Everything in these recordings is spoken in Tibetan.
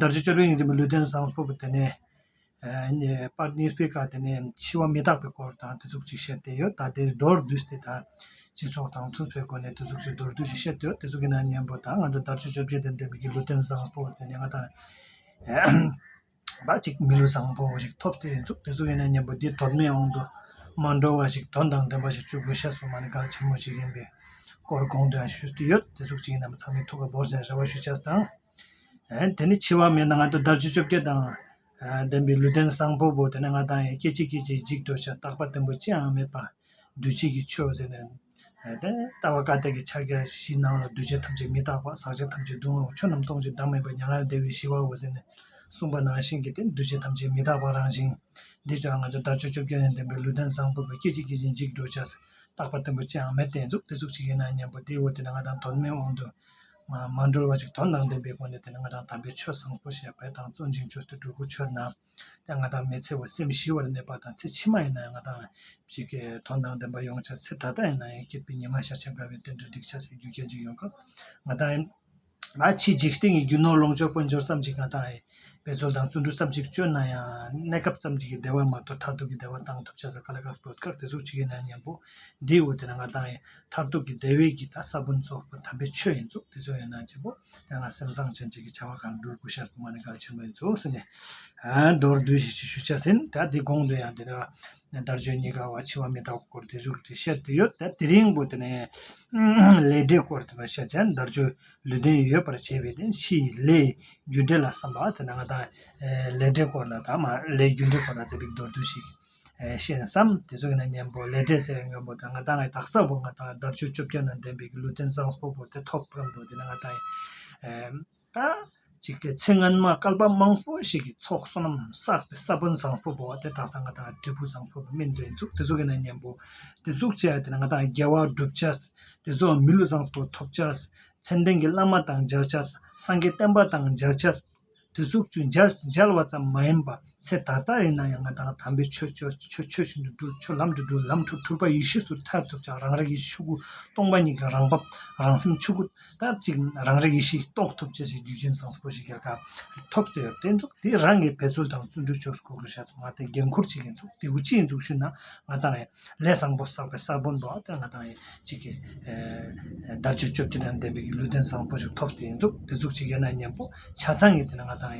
དར་ཆ་བཅོ་བརྒྱད་ཡིན་རིང་མི་ལུས་རྟེན་བཟང་ཕུབ་པ་དེ་ནས་པར་ནིས་སྤེལ་ཁ་དེ་ནས་འཆི་བ་མི་རྟག་པའི་སྐོར་དང་དེ་ཚུགས་ཅིག་བཤད་དེ་ཡོད་ད་དེ་མདོར་བསྡུས་ཏེ་ད་སྤྱི་ཚོགས་དང་མཐུན་ཕེབས་སྒོ་ནས་དེ་ཚུགས་ཅིག་མདོར་བསྡུས་ཤིག་བཤད་དེ་ཡོད་དེ་ཚུགས་ཀྱི་ནང་སྙན་པོ་དང་ང་ཚོ་དར་ཆ་བཅོ་བརྒྱད་ལྡན་པའི་མི་གི་ལུས་རྟེན་བཟང་ཕུབ་པ་དེ་ནས་ང་དང་ད་ཅིག་མི་ལུས་བཟང་ཕུབ་པ་ཞིག་ཐོབ་དེ་ཡིན་ཚུགས་དེ་ཚུགས་ཀྱི་ནང་སྙན་པོ་འདི་མདོར་སྨད་དབང་དུ་མ་འགྲོ་བ་ཞིག་དོན་དང་ལྡན་པ་ཞིག་བཅུ་དགུ་ཤ་ཟུར་མ་ནི་དགག་ཆེན་མོ་ཞིག་ཡིན་པའི་སྐོར་དགོངས་དོན་ཞུས་དེ་ཡོད་དེ་ཚུགས་ཅིག་ཡིན་ནམ་ཚང་མས་ཐུགས་ཁ་འབོར་ཟེར་རེ་བ་ཞུ་ཆ་དང། དེ་ནས་འཆི་བ་མེད་ན་ང་དང་བདག་བཅུ་བཅོ་བརྒྱད་དང་ལྡན་པའི་ལུས་ལྡན་བཟང་པོ་བོ་དེ་ནས་ང་དང་ཡང་སྐད་ཅིག་སྐད་ཅིག་འཇིག་འགྲོ་ཞེས་བརྟག་པ་བརྟན་པོ་ཅི་ཡང་མེད་པར་འདུ་བྱེད་ཀྱི་ཆོས་ཟེར་ནས། ལྟ་བ་བཀའ་གཏེར་གྱི་ཕྱག་རྒྱ་བཞི་སྣང་ལ་འདུས་བྱས་ཐམས་ཅད་མི་རྟག་པ་ཟག་བཅས་ཐམས་ཅད་སྡུག་བསྔལ་བ་ཆོས་རྣམས་སྟོང་ཞིང་བདག་མེད་པ་མྱ་ངན་ལས་འདས་པའི་ཞི་བའོ་ཟེར་ནས་གསུངས་པ་ནང་བཞིན་གྱི་དེ་འདུས་བྱས་ཐམས་ཅད་མི་རྟག་པ་རང་བཞིན་འདི་ཅག་ང་དང་བདག་བཅུ་བཅོ་བརྒྱད་ནས་ལྡན་པའི་ལུས་ལྡན་བཟང་པོ་བོ་སྐད་ཅིག་སྐད་ཅིག་འཇིག་འགྲོ་ཞེས་བརྟག་པ་བརྟན་པོ་ཅི་ཡང་མེད་དེ་གཟུགས་དེ་གཟུགས་ཅིག་ཡིན་ན་སྙམ་པོ་དེའོ་དེ་ནས་ང་དང་དོར་མའི་དབང་དུ། མ་འགྲོལ་བ་ཞིག་དོ་སྣང་ལྡན་པའི་སྒོ་ནས་དེ་ནི་ང་དང་དམ་པའི་ཆོས་བཟང་པོ་ཞེས་པའི་དང་གཙོ་འབྱིན་ཆོས་ཏེ་གྲུ་གུ་ཆོས་རྣམས་ཀྱང་ང་དང་མི་འཚེ་བར་སེམས་ཞི་བར་གནས་པ་དང་ཚེ་ཕྱི་མ་ཡིན་ན་ཡང་ང་དང་གཅིག་གི་དོ་སྣང་ལྡན་པ་ཡོང་བྱ་ཚེ་ད་ལྟ་ཡིན་ན་ཡང་སྐྱིད་པའི་ཉི་མ་ཤར་ཕྱིན་དགའ་བའི་དོན་དུ་སྒྲིག་ཆ་ཟེར་རྒྱུ་གལ་ཆེན་ཡོང་སྐབས་ང་དང་ཨ་ཕྱིས་འཇིག་རྟེན་གྱི་རྒྱུ་ནོར་ལོངས་སྤྱོད་དཔལ་འབྱོར་ཙམ་གྱིས་ང་དང་ཨའི་འབད་རྩོལ་དང་བརྩོན་འགྲུས་ཙམ་གྱིས་སྤྱོད་ན་ཡང་གནས་སྐབས་ཙམ་གྱི་བདེ་བ་མ་གཏོགས་མཐར་ཐུག་གི་བདེ་བ་བཏང་ཐུབ་བྱ་ས་ག་ལ་ག་སོགས་བོད་སྐད་དེ་ཚོ་ཅི་ཡིན་ནམ་སྙམ་པོ་འདིའི་འོག་ཏུ་ནི་ང་དང་ཨའི་མཐར་ཐུག་གི་བདེ་བའི་གྱི་ད་ས་བོན་རྫོགས་པ་དམ་པའི་ཆོས་ཡིན་ཚོགས་དེ་ཚོ་ཡོད་ན་བྱེད་པོ་དེ་སྔ་སེམས་བཟང་ཅན་ཅིག་གི་བྱ་བ་གང་འགྲུལ་དགུ་ཤར་དུ་མ་ནི་ག་ལ་ཆེན་པོ་ཡིན་ཚོགས་ཟིན་ནས་མདོར་བསྡུས་ཤིག་ཅིག་ཞུ་བྱ་ཟིན་ད་དེ་གོང་དུ་ཡང་དེ་ལྟ་བ་དར་ཆོས་གཉིས་ཀ་བ་འཆི་བ་མི་རྟག་པའི་སྐོར་དེ་ཚོ་དེ་བཤད་དེ་ཡོད་ད་དེ་རིང་པོ་དེ་ནས་ལས་འབྲས་སྐོར་དེ་བ་བཤད་བྱ་དར་ཆོས་ལུས་རྟེན་ཡོད་པར་བྱས་པའི་དེ་ཕྱིའི་ལས་རྒྱུ་འབྲས་ལ་བསམ་པ་དེ་ནང་ད་ལས་འབྲས་སྐོར་ལ་ད་མ་ལས་རྒྱུ་འབྲས་སྐོར་ལ་ཚེ་འབིག་མདོར་བསྡུས་ཤིག། ཤེས་ནས་སམ། དེ་ཚོ་གི་ནང་གཉན་པོ་ལས་འབྲས་སེར་ཡང་གཉོམ་པོ་དང་ང་དང་ལའི་དག་ས་བོ་ང་དང་ལ་འདབ་ཆུ་བཅོ་བརྒྱད་ནང་ལྡན་པའི་གི་ལུས་རྟེན་བཟང་སྤོ་བོ་དེ་ཐོབ་བམ་འགྲོ་དེ་ནི་ང་དང་ལ། ཅིག་གི་ཚེ་སྔོན་མ་སྐལ་པ་དམངས་སྤོ་ཞིག་གི་ཚོགས་བསོད་ནམས་བསགས་པའི་ས་བོན་བཟང་སྤོ་བོ་དེ་དག་ས་ང་དང་ལ་དྲིལ་བུ་བཟང་སྤོ་བོ་སྨིན་འདོད་འཛུགས་དེ་ཚོ་གི་ནང་གཉན་པོ་དེ་གཟུགས་བྱས་དེ་ནི་ང་དང་ལ་རྒྱལ་བ་བསྒྲུབ་བྱ། དེ་ཚོ་མི་ལུས་བཟང་སྤོ་ཐོབ་བྱ། མཚན་ལྡན་གྱི་བླ་མ་དང་སྦྱར་བྱ། སངས་རྒྱས་བསྟན་པ་དང་སྦྱར་བྱ། དེ་ཚོ་ཚུར་མཇལ་བ་ཙམ་མ་ཡིན་པར་ཚེ་ད་ལྟ་ཡིན་ན་ཡང་ང་དང་དམ་པའི་ཆོས་བཞིན་དུ་འགྲུབ་ཆོས་ལམ་དུ་འགྲོ་ལམ་ཁྲོད་འཁྲུལ་པ་ཡེ་ཤེས་སུ་ཐར་ཐུབ་ཀྱང་རང་རིག་ཡེ་ཤེས་ཆོས་སྐུ་སྟོང་པ་ཉིད་ཀྱི་རང་བབ་རང་སེམས་ཆོས་སྐུ་དར་ཅིག་རང་རིག་ཡེ་ཤེས་རྟོགས་ཐུབ་ཅེས་ཞེས་རྒྱུ་རྐྱེན་བཟང་པོ་ཞིག་ག་གཱ་ཐོབ་ཟེར་བསྟན་འདུག་དེ་རང་གི་བེད་སྤྱོད་དང་བརྩོན་འགྲུས་ཆོས་སུ་གོ་དགོས་ཞེས་སོགས་ང་དང་འགན་ཁུར་བྱེད་མཁན་ཚོ་དེ་བུ་གཅིག་འདུག་ཞུས་ན་ང་དང། ལས་བཟང་པོ་བསགས་པའི་ས་བོན་པོ་དེ་ང་དང་གཅིག་གི་དར་ཅིག་བཅོ་བརྒྱད་དང་ལྡན་པའི་ལུས་རྟེན་བཟང་པོ་ཞིག་ཐོབ་དེ་ཡིན་འདུག་དེ་གཟུགས་ཅིག་ཡོད་ན་སྙམ་པོ་ཆ་ཚང་གིས་དེ་ན་ང་དང་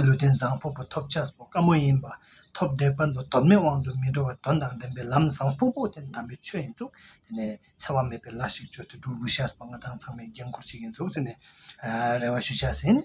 ལུས་རྟེན་བཟང་པོ་པོ་ཐོབ་ཆགས་པོ་དཀའ་མོ་ཡིན་པ་ཐོབ་བདེ་བར་དུ་དོན་མེད་དབང་དུ་མི་འགྲོ་བར་དོན་དང་ལྡན་པའི་ལམ་བཟང་པོ་པོ་དེ་དམ་པའི་ཆོས་ཡིན་འདུག་དེ་ནས་འཚེ་བ་མེད་པའི་ལ་ཞིག་བཅོལ་དུ་འགྲོ་དགོས་ཤགས་པ་ང་དང་ཚང་མས་འགན་ཁུར་ཅིག་ཡིན་འདུག་ཟེར་ནས་རེ་བ་ཞུ་ཆགས་ཟིན།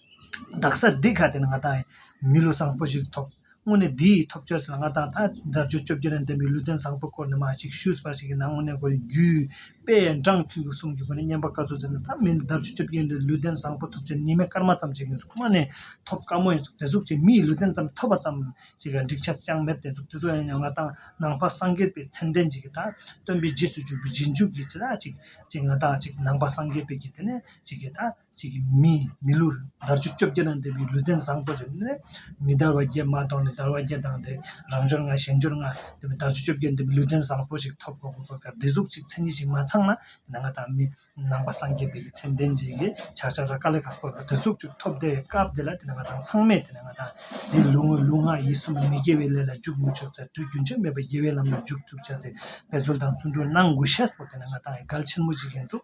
རྡག་ས་རྡི་ག་དེ་ནི་ང་དང་མི་ལུས་བཟང་པོ་ཞིག་ཐོབ་དངོས་གནས་འདི་ཡི་ཐོབ་བྱར་ཚུལ་ང་དང་ད་ལྟ་བརྗོད་བཅོ་བརྒྱད་ནས་འདས་པའི་ལུས་རྟེན་བཟང་པོའི་སྐོར་ནས་མ་ཞིག་ཞུས་པ་ཞིག་གིས་ན་དངོས་གནས་གོ་རྒྱུའི་དཔེ་འབྲང་ཚུལ་དུ་གསུངས་རྒྱུ་ཁོ་ནས་སྙན་པ་བཀའ་ཟུར་ཟེར་ན་ད་མི་འདུག་ད་བརྗོད་བཅོ་བརྒྱད་འདིར་ལུས་རྟེན་བཟང་པོ་ཐོབ་བྱར་ཉི་མའི་སྐར་མ་ཙམ་ཞིག་ཡིན་ཁོ་མ་ནི་ཐོབ་དཀའ་མོ་ཡིན་ཚུལ་དེ་གཟུགས་ཀྱི་མིའི་ལུས་རྟེན་ཙམ་ཐོབ་པ་ཙམ་ཞིག་གི་འགྲིག་ཆ་ཅང་མེད་བསྟན་ཚུལ་དེ་ཚོ་ཡང་ཡང་ང་དང་ནང་པ་སངས་རྒྱས་པའི་མཚན་ལྡན་ཅིག་གིས་ད་སྟོན་པའི་རྗེས་སུ་བཅུག་པའི་རྗེས་འཇུག་གི་ཅི་ལ་ཅིག་ཅིག་ང་དང་ཅིག་ནང་པ་སངས་རྒྱས་པའི་གིས་དེ་ནས་ཅིག་གིས་ད། ཅིག་གིས་མིའི་མི་ལུས་དར་ཆུ་བཅོ་བརྒྱད་དང་ལྡན་པའི་ལུས་རྟེན་བཟང་པོ་རེ་ནི། མི་དར་བ་བརྒྱད་མ་དང་ནི་དར་བ་བརྒྱད་དང་ལྡན་རང་འབྱོར་ལྔ་གཞན་འབྱོར་ལྔ་ལྡན་པའི་དར་ཆུ་བཅོ་བརྒྱད་ལྡན་པའི་ལུས་རྟེན་བཟང་པོ་ཞིག་ཐོབ་དགོས་པའི་བཀའ་བདེ་གཟུགས་ཅིག་མཚན་ཉིད་ཅིག་མ་ཚང་ན་དེ་ན་ང་དང་མི་ནང་པ་སངས་རྒྱས་པའི་ཀྱི་མཚན་ལྡན་ཅིག་གི་ཕྱག་ཆ་ལ་དཀའ་ལས་ཁག་དཀོན་པའི་བདེ་གཟུགས་ཅིག་ཐོབ་བདེ་བའི་སྐབས་དེ་ལ་དེ་ན་ང་དང་ཚང་མས་དེ་ན་ང་དང་འདིའི་ལུས་དངོས་ལུས་ངག་ཡིད་གསུམ་ལ་མི་དགེ་བའི་ལས་ལ་འཇུག་མི་ཆོག་ཚེ་དུས་རྒྱུན་ཆད་མེད་པར་དགེ་བའི་ལམ་ལ་འཇུག་ཚུགས་བྱ་ཚེ་འབད་རྩོལ་དང་བརྩོན་འགྲུས་གནང་དགོས་ཤེས་སོ་དེ་ན་ང་དང་ཡི་གལ་ཆེན་མོ་ཅིག་ཡིན་ཚུལ།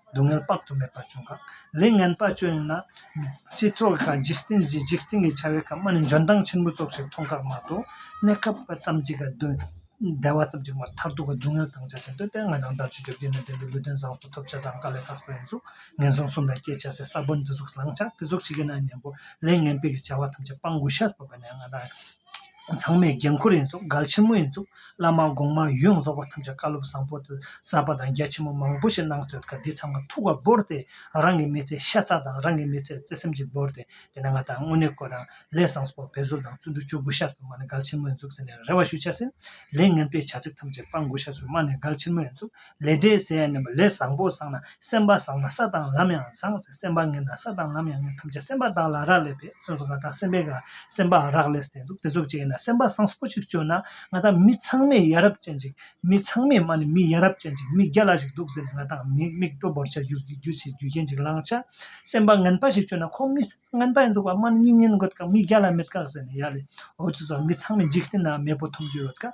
སྡུག་བསྔལ་དཔག་ཏུ་མེད་པ་བྱུང་གང། ལས་ངན་དཔའ་སྤྱོད་ཡིན་ན། ཅེས་ཐོག་ག་འཇིག་རྟེན་གྱི་འཇིག་རྟེན་གྱི་བྱ་བའི་ཁམས་མ་ནི་འཇོན་ཐང་ཆེན་པོ་ཙོག་ཞིག་མཐོང་ཁག་མ་གཏོགས་གནས་སྐབས་པ་ཙམ་གྱིས་ག་དུས་བདེ་བ་ཙམ་གྱིས་མ་མཐར་ཐུག་གི་སྡུག་བསྔལ་དང་བཅས་ཟིན་དོན་ལྟས་ངན་དང་འདར་གཅོད་བཅོ་བརྒྱད་ནས་འདས་པའི་ལུས་རྟེན་བཟང་པོ་ཐོབ་བྱ་དང་དཀའ་ལས་ཁག་པའི་གཟུགས་ངན་སོང་གསུམ་ལ་སྐྱེ་བྱ་ཟད་ས་བོན་དེ་གཟུགས་བླང་བྱ་དེ་གཟུགས་བྱེད་ཀྱི་ན་གཉན་པོ་ལས་ངན་པའི་གྱི་བྱ་བ་ཐམས་ཅད་སྤང་དགོས་ཤ་སྤོབས་པ་ནས་ང་དང། ཚང་མས་རྒན་འཁོར་ཡིན་ཙང་མགར་ཆེན་མོ་ཡིན་ཙང་བླ་མ་གོང་མ་ཡོངས་རྫོགས་པ་ཐམས་ཅད་བཀའ་སློབ་བཟང་པོ་གསར་པ་དང་རྒྱ་ཆེན་པོ་མང་པོ་ཞིག་གནང་སྟོད་ཀ་འདི་ཚང་མ་ཐུགས་ཀར་བོར་ཏེ་རང་གི་མི་ཚེ་ཤ་ཚ་དང་རང་གི་མི་ཚེ་བརྩེ་སེམས་ཀྱིས་བོར་ཏེ་དེ་ན་ང་དང་དངོས་གནས་བསྐོས་རང་ལས་བཟང་སྤོབས་བེད་སྲོལ་དང་བརྩོན་འགྲུས་བཅུ་དགུ་ཤ་ཟུར་མ་ནས་མགར་ཆེན་མོ་ཡིན་ཙང་ཟེར་ནས་རེ་བ་ཞུ་བྱ་ཟིན་ལས་ངན་པས་བྱ་ཚིག་ཐམས་ཅད་སྤང་དགོས་ཤ་ཟུར་མ་ནས་མགར་ཆེན་མོ་ཡིན་ཙང་ལས་འབྲས་ཟད་ནས་མ་ལས་བཟང་པོ་བཟང་ན་སེམས་པ་བཟང་ན་ས་དང་ལམ་ཡང་བཟང་སེམས་པ་ངན་ན་ས་དང་ལམ་ཡང་ངན་ཐམས་ཅད་སེམས་པ་དག་ལ་རག་ལས་པས་སེམས་སུ་ང་དང་སེམས་པས་ང་སེམས་པ་རག་ལས་སུ་དེ་ཚོ་བྱས་ན་སེམས་པ་བཟང་པོ་ཞིག་སྤྱོད་ན་ང་དང་མི་ཚང་མས་ཡ་རབས་ཅན་ཅིག་མི་ཚང་མས་མ་ནི་མི་ཡ་རབས་ཅན་ཅིག་མི་བརྒྱ་ལ་ཞིག་འདུག་ཟེར་ནས་ང་དང་མི་མིག་ལྟོ་བོར་བྱ་རྒྱུ་རྒྱུ་ཞིག་རྒྱུ་རྐྱེན་ཅིག་ལངས་ཆ་སེམས་པ་ངན་པ་ཞིག་སྤྱོད་ན་ཁོང་མི་སེམས་པ་ངན་པ་ཡིན་འདུག་བ་མ་ནི་མྱི་ངན་འགོད་དཀའ་མི་བརྒྱ་ལ་མེད་དཀའ་ཟེར་ནས་ཡ་ལས་འོ་ཚོད་ཚོད་མི་ཚང་མས་འཇིག་རྟེན་ན་མེས་པོ་ཐོབ་རྒྱུ་ཡོད་དཀའ།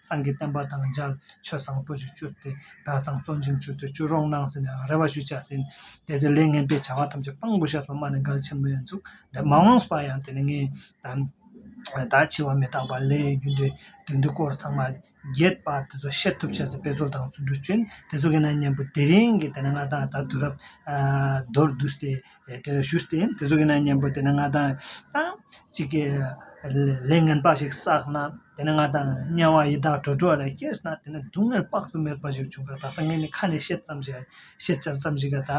སངས་རྒྱས་བསྟན་པ་དང་འཇལ། ཆོས་བཟང་པོ་ཞིག་བཅུར་ཏེ། གྲྭ་ཚང་གཙོ་འཇིངས་ཆུ་ཚོད་བཅུ་རོང་གནང་ཟིན་ནས་རེ་བ་ཞུ་བྱ་ཟིན། དེ་དུས་ལས་ངན་པའི་བྱ་བ་ཐམས་ཅད་སྤང་དགོས་ཤག་སོགས་སྨྲ་ནས་འགལ་ཆེན་མོའི་མཇུག་འབྲས་མ་འོངས་པ་ཡང་དེ་ནས་ངས་ད་འཆི་བ་མི་རྟག་པ་ལས་རྒྱུ་འབྲས་དོན་འདི་སྐོར་ཚང་མ་རྒྱས་པ་དེ་ཚོ་བཤད་ཐུབ་བྱས་ཚེ་དཔེ་ཚོར་དང་བརྩོན་འགྲུས་བསྐྱོན་དེ་ཚོ་གི་ན་མཉམ་པོ་དེ་རིང་གི་དེ་ན་ང་དང་ད་དུས་རབས་མདོར་བསྡུས་ཏེ། ཞུས་ཏེ་དེ་ཚོ་ཡིན་ན་གཉེན་པོ་དེ་ནི་ང་དང་གཅིག་གི་ལས་ངན་པ་ཞིག་བསགས་ན་དེ་ནི་ང་དང་དམྱལ་བ་ཡི་དྭགས་དྲོ་དྲོ་ལ་སྐྱེས་ན་དེ་ནི་སྡུག་བསྔལ་དཔག་ཏུ་མེད་པ་ཞིག་བྱུང་གི་ད་སང་ངས་ནི་ཁ་ནས་བཤད་ཙམ་ཞིག་ཤེས་བྱ་ཙམ་ཞིག་གི་ད་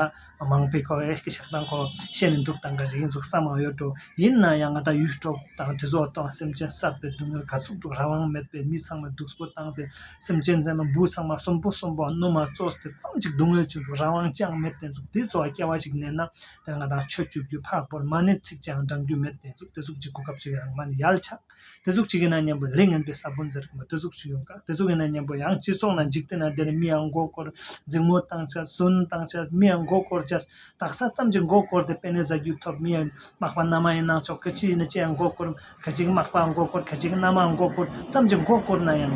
མང་པོའི་ཁོ་བོའི་ཤག་སྟངས་ཁོ་བོ་ཤེས་ནས་འདུག་ད་འགའ་ཞིག་ཡིན་ཚུལ་བསམ་མ་ཡོད་དོ་ཡིན་ན་ཡང་ང་དང་ཡུལ་གྲོགས་དང་དྲི་བཟོ་བ་ལྟ་བ་སེམས་ཅན་བསགས་པའི་སྡུག་བསྔལ་ག་ཚོད་འདུག་རང་དབང་མེད་པའི་མི་ཚང་མས་སྡུག་པོ་བཏང་སྟེ་སེམས་ཅན་ཚང་མ་འབུ་ཚང་མ་གསོན་པོ་གསོན་པོ་བསྣུབས་མ་བཙོ་སྟེ་ཙམ་གཅིག་སྡུག་བསྔལ་བྱུང་འདུག་རང་དབང་ཅང་མེད་དེ་ཚོ་དེ་ཚོ་བ་སྐྱེ་བ་ཞིག་གནས་ན་དེར་ང་དང་ཆོས་བཅོས་རྒྱུ་འཕགས་པོར་མ་གནས་ཚིག་ཅང་འབྲང་རྒྱུ་མེད་དེ་ཚོ་དེ་ཚོ་གཅིག་གོ་སྐབས་ཅིག་ཡང་མ་གནས་ཡལ་ཆགས། དེ་གཟུགས་གཅིག་ཡིན་ན་གཉེན་པོ་ལས་ངན་པའི་ས་བོན་ཟེར་གི་མོད་དེ་གཟུགས་གཅིག་ཡོང་དཀའ་དེ་གཟུགས་ཡིན་ན་གཉེན་པོ་ཡང་སྤྱི་ཚོགས་ན་འཇིག་རྟེན་ན་དེར་མིའང་མགོ་བསྐོར་རྫིང་མོ་བཏང་ཆ་སུན་བཏང་ཆ་མིའང་མགོ་བསྐོར་ཆ་དག་ས་ཙམ་གྱིས་མགོ་བསྐོར་དེ་དཔེ་ནས་བཟའ་རྒྱུ་ཐོབ་མིའི་མག་པ་ནར་མ་ཡིན་ནང་ཆོག་གི་ཅི་ཡིན་ན་ཅིའང་མགོ་བསྐོར་ག་ཅིག་མག་པའང་མགོ་བསྐོར་ག་ཅིག་ནར་མའང་མགོ་བསྐོར་ཙམ་གྱིས་མགོ་བསྐོར་ན་ཡང།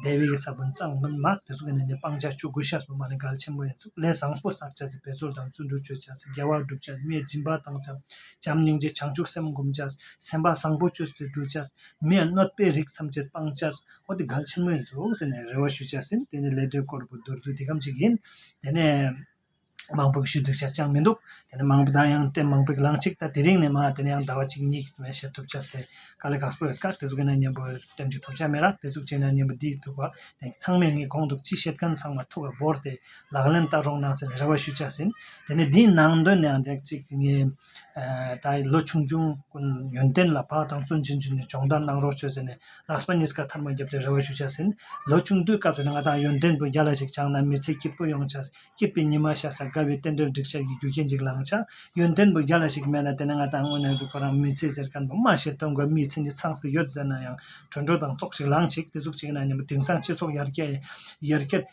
སྡེ་བའི་ས་བོན་གཙང་མ་དམར་དེ་ཚོ་གི་ནང་ནས་སྤང་བྱ་ཆུ་འགོ་ཤ་ཟོ་མ་ནི་གལ་ཆེན་པོ་ཡིན་ཚུལ་ལས་བཟང་པོ་གསར་བྱ་ཚེ་འབད་རྩོལ་དང་བརྩོན་འགྲུས་སྤྱོད་བྱ་ཚེ་རྒྱལ་བ་བསྒྲུབ་བྱ་གནས་སྦྱིན་པ་བཏང་བྱ་བྱམས་སྙིང་རྗེ་བྱང་ཆུབ་སེམས་བསྒོམ་བྱ་སེམས་པ་བཟང་པོ་སྤྱོད་ཚེ་སྒྲུབ་བྱ་མི་གནོད་པའི་རིགས་ཐམས་ཅད་སྤང་བྱ་ཧོ་དེ་གལ་ཆེན་པོ་ཡིན་ཚུལ་ཟེར་ནས་རེ་བ་ཞུ་བྱ་ཟིན་དེ་ནས་ལས་འབྲས་བསྐོར་བུ་མདོར་བསྡུས་འདི་གམ་ཅིག་ཡིན་དེ་ནས། དམངས་ཕུགས་ཞུ་དུས་ཆ་ཅང་མི་འདུག་དེ་ནས་མང་པོ་ད་ཡང་དེ་མང་པོའི་ལངས་ཤིག་ད་དེ་རིང་ནས་མ་དེ་ནས་ཡང་ཟླ་བ་གཅིག་གཉིས་ནས་བཤད་ཐུབ་ཆ་དེ་ག་ལེ་གགས་པོ་ཡོད་ཀ་དེ་ཟུག་གི་ན་གཉེན་པོ་ལྟེམ་གྱི་ཐོབ་ཆ་མེད་ར་དེ་ཟུག་བྱས་ན་གཉེན་པོ་འདིས་ཐུག་བ་དེང་གི་ཚང་མས་ངས་དགོངས་འདུག་ཅི་བཤད་མཁན་ཚང་མ་ཐུག་ག་བོར་ཏེ་ལག་ལེན་བསྟར་རོགས་གནང་ཟེར་ནས་རེ་བ་ཞུ་ཆ་ཟིན་དེ་ནས་འདིའི་ནང་དོན་ནི་ཡང་དེ་གཅིག་ངས། ད་ཡིན་ལོ་ཆུང་ཆུང་ཀུན་ཡོན་ཏན་ལ་བག་དང་བརྩོན་ཆེན་བྱོས་ནས་སྦྱོང་བརྡར་གནང་རོགས་བྱོས་ཟེར་ནས་ལགས་སྤ་ཉིས་ཀ་ཐར་མ་བརྒྱབ་སྟེ་རེ་བ་ཞུ་བྱ་ཟིན། ལོ་ཆུང་དུས་སྐབས་དེར་ང་དང་ཡོན་ཏན་བུ་བརྒྱ་ལ་ཞིག་བྱང་ན་མི་ཚེ་སྐྱིད་པོ་ཡོང་བྱ། སྐྱིད་པའི་ཉི་མ་ཤར་སར་དགའ་བའི་རྟེན་འབྲེལ་འགྲིག་བྱ་ཡི་རྒྱུ་རྐྱེན་ཅིག་ལང་བྱ། ཡོན་ཏན་བུ་བརྒྱ་ལ་ཞིག་མེད་ན་དེ་ནི་ང་དང་དངོས་གནས་རུས་པ་རང་མི་ཚེ་གཟེར་ག་འདུག་སྨྲ་ཤེས་སྟོན་དགོས་མིའི་མཚན་གྱི་ཚངས་སུ་ཡོད་ཟེར་ན་ཡང་གྲོས་འགྲོ་དང་ཙོག་ཅིག་ལངས་ཅིག་དེ་ཟུག་ཅིག་ན་ཉིན་མོ་དེང་སང་སྤྱི་ཚོགས་ཡར་རྒྱས་ཡར་རྒྱས།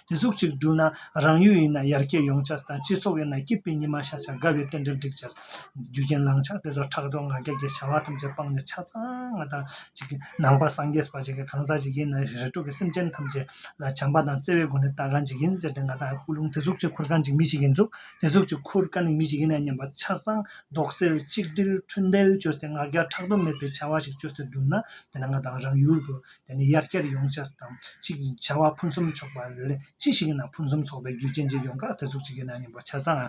དེ་གཟུགས་གཅིག་བསྒྲུབས་ན་རང་ཡུལ་ཡིན་ན་ཡར་སྐྱེད་ཡོང་བྱ་དང་སྤྱི་ཚོགས་ཡིན་ན་སྐྱིད་པའི་ཉི་མ་ཤར་བྱ་དགའ་བའི་རྟེན་འབྲེལ་བསྒྲིག་བྱ། རྒྱུ་རྐྱེན་བླང་བྱ་དེ་ཚོར་ཕྲག་དོག་ང་རྒྱལ་གྱི་བྱ་བ་ཐམས་ཅད་སྤངས་ནས་ཆ་ཚང་དང། ནང་པ་སངས་རྒྱས་པ་ཞིག་གིས་གང་ཟག་ཅིག་ཡིན་ན་རེ་དྲུག་གི་སེམས་ཅན་ཐམས་ཅད་ལ་བྱམས་པ་དང་བརྩེ་བའི་སྒོ་ནས་ལྟ་གང་ཅིག་ཡིན་ཟེར་ཏེ་ང་དང་སྐུ་རླུང་དེ་གཟུགས་གཅིག་ཁུར་གང་ཅིག་མི་གཅིག་གིས་འཛུགས་དེ་གཟུགས་གཅིག་ཁུར་གང་ནི་མི་གཅིག་ཡིན་ན་སྙམ་པ་ཆ་ཚང་རྡོག་སེལ་གཅིག་སྒྲིལ་མཐུན་སྒྲིལ་བཅོལ་ཏེ་ང་རྒྱལ་ཕྲག་དོག་མེད་པའི་བྱ་བ་ཞིག་བཅོལ་ཏེ་བསྒྲུབས་ན་དེ་ན་ང་དང་རང་ཡུལ་དུ་དེ་ནི་དབྱར་སྐྱར་ཡོངས་ཆགས་སུ་དང་གཅིག་བྱ་བ་ཕུན་སུམ་ཚོགས་པ་ལས་ཅི་ཞིག་གི་ནང་ཕུན་སུམ་ཚོགས་པའི་རྒྱུ་རྐྱེན་གྱིས་ཡོངས་གྲགས་དེ་ཚོ་གཅིག་གི་ནང་ཉིན་པར་ཆ་ཚང་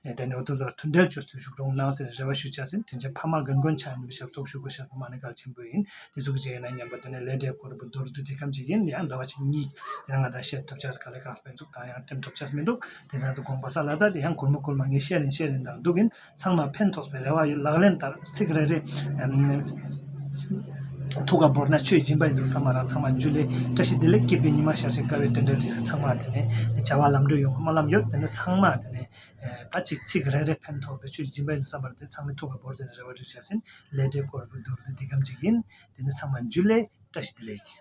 ཡང་དེ་ནི་འོ་དོད་ཚོར་མཐུན་འབྲེལ་གཅོད་ཚུལ་ཞུགས་རོགས་གནང་ཚེ་རེ་བ་ཞུ་བྱ་ཟིན་དྲིན་ཆེན་ཕ་མ་དགེ་མགོན་ཕྱག་གཉིས་པའི་ཞབས་ཏོག་ཞུ་གོ་ཞབས་པད་མ་ནི་གལ་ཆེན་པོ་ཡིན་དེ་ཚོ་གི་གཅིག་གི་ནང་ཉིན་པར་དེ་ནི་ལས་འབྲས་སྐོར་བུ་རྡོ་རུ་དུ་དེ་ཁམས་ཅིག་ཡིན་ཡང་འདོད་པ་ཆེ་གཉིས་དེ་ནང་ང་དང་བཤད་ཐུབ་ཆགས་ག་ལེ་གང་སྤེལ་འཛུགས་དང་ཡང་སྤྲིམ་ཐུབ་ཆགས་མི་འདུག་དེ་བཞིན་དུ་དགོངས་པ་ས་ལ་རྫ་དེ་ཡང་གུར་མོ་གུར་མ་ངས་བཤད་རིན་བཤད་རིན་དང་སྡུག་གིན། ཚང་མར་ཕན་ཐོགས་པའི་རེ་བ་ཡོད་ལག་ལེན་ལྟར་ཚིག་རེ་རེ་ཐུགས་ཀར་བོར་ན་ཆོས་སྦྱིན་པར་འཇུག་ས་མ་རག་ཚང་མ་འཇུ་ལེ་བཀྲ་ཤིས་བདེ་ལེགས་སྐྱིད་པའི་ཉི་མ་ཤར་ཞིང་དགའ་བའི་སྤྲིན་བྲལ་དུས་ཚིགས་ཚང་མ་དེ་ནས་བྱ་བ་ལམ་འགྲོ་ཡོང་བར་སྨོན་ལམ་ཡོད་དེ་ནས་ཚང་མ་དེ་ནས་ད་ཅིག་ཚིག་རེ་རེ་ཕན་ཐོགས་པའི་ཆོས་སྦྱིན་པར་འཇུག་ས་མ་རེད་དེ་ཚང་མས་ཐུགས་ཀར་བོར་ཚེ་ནས་རེ་བ་འགྲུབ་བྱ་ཟིན་ལས་འབྲས་འཁོར་བའི་མདོར་བསྡུས་འདི་ཀའམ་ཅིག་ཡིན་དེ་ནས་ཚང་མ་འཇུ་ལེ་བཀྲ་ཤིས་བདེ་ལེགས།